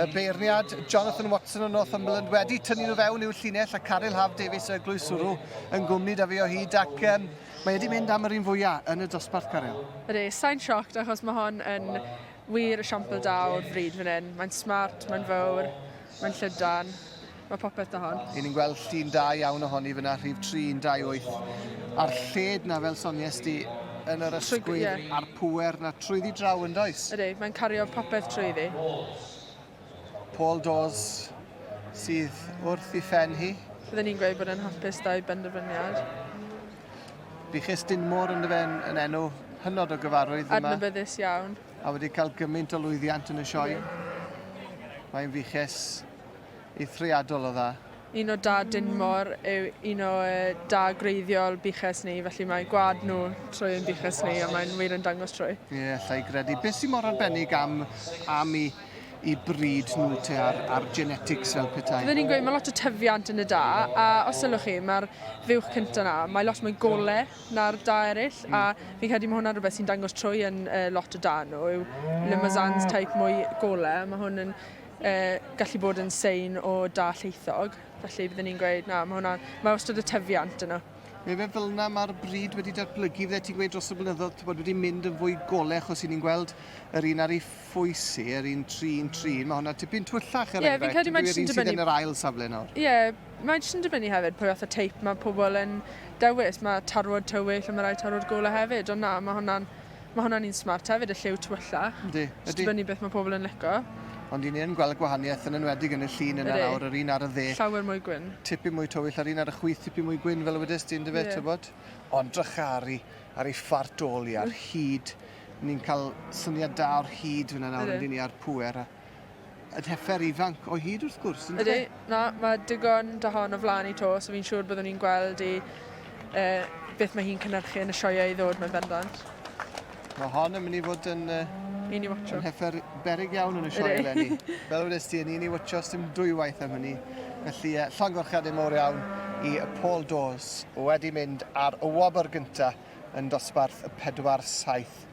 y beirniad Jonathan Watson o Northumberland wedi tynnu nhw fewn i'w llinell a Caryl Haf Davies y glwyswrw yn gwmni da fi o hyd ac um, mae wedi mynd am yr un fwyaf yn y dosbarth Caryl. Ydy, sain sioct achos mae hon yn wir y siampl da o'r fryd fan hyn. Mae'n smart, mae'n fawr, mae'n llydan. Mae popeth da hon. Yn i'n gweld llun da iawn ohoni fyna, rhif 318. A'r lled na fel sonies di yn yr ysgwydd yeah. a'r pŵer na trwyddi draw yn does? Ydy, mae'n cario popeth trwyddi. Paul Dawes sydd wrth i ffen hi. Fydden ni'n gweud bod yn hapus da'i benderfyniad. Buchus Dinmore yn dyfen yn enw hynod o gyfarwydd yma. Adnabyddus iawn. A wedi cael gymaint o lwyddiant yn y sioe. Mae'n fuchus eithriadol o dda. Un o Da Dinmor yw un o Da gwreiddiol Buches ni, felly mae gwlad nhw trwy ein buches ni, a mae'n wir yn dangos trwy. Ie, allai gredu. Beth sy'n mor arbennig am am i i bryd nhw te ar, ar genetics fel petai? Fydden ni'n gweud mae lot o tyfiant yn y da, a os ylwch chi, mae'r fuwch cyntaf yna, mae lot mwy gole na'r da eraill, mm. a fi'n credu mae hwnna'n rhywbeth sy'n dangos trwy yn uh, lot o da nhw, yw Limousin's type mwy gole, mae hwn yn y gallu bod yn sein o da llaethog, felly byddwn ni'n gweud na, mae hwnna, mae wastad y tyfiant yna. Mae fe fel yna mae'r bryd wedi datblygu, fydde ti'n gweud dros y blynyddoedd, ti'n bod, wedi mynd yn fwy gole, achos i ni'n gweld yr un ar ei phwysi, yr un trin, trin, mae hwnna tipyn twyllach er yeah, enghraifft, yeah, yr un sydd yn yr ail safle nawr. Ie, yeah, mae jyst yn dibynnu hefyd pwy fath o teip mae pobl yn dewis, mae tarwod tywyll a mae rai tarwod gole hefyd, ond na, mae hwnna'n Mae hwnna'n un smart hefyd, y lliw tywyllau. Yndi, yndi. Jyst dibynnu beth mae pobl yn lico. Ond i ni yn gweld y gwahaniaeth yn enwedig yn y llun yna Ydi. nawr, yr un ar y dde. Llawer mwy gwyn. Tipyn mwy tywyll a'r un ar y chwith tipyn mwy gwyn fel y wedest ti yndyfe, Ie. tybod? Ond drycharu ar ei phart ôl hi, a'r hud. Ni'n cael syniad da o'r hud fanna nawr Ydyn. yndyn ni, a'r pŵer a... y llefer ifanc o hyd wrth gwrs. Ydy, e? na, mae digon da hon o flaen i to, so fi'n siŵr byddwn ni'n gweld i uh, beth mae hi'n cynnyrchu yn y sioiau i ddod mewn bendant. Mae hon yn mynd i fod yn... Uh, un i watcho. Yn heffer berig iawn yn y sioe eleni. Fel wedi ti, yn un i watcho sy'n dwywaith am hynny. Felly, uh, llongorchiadau mor iawn i Paul Dawes wedi mynd ar y wobr gyntaf yn dosbarth y 4-7.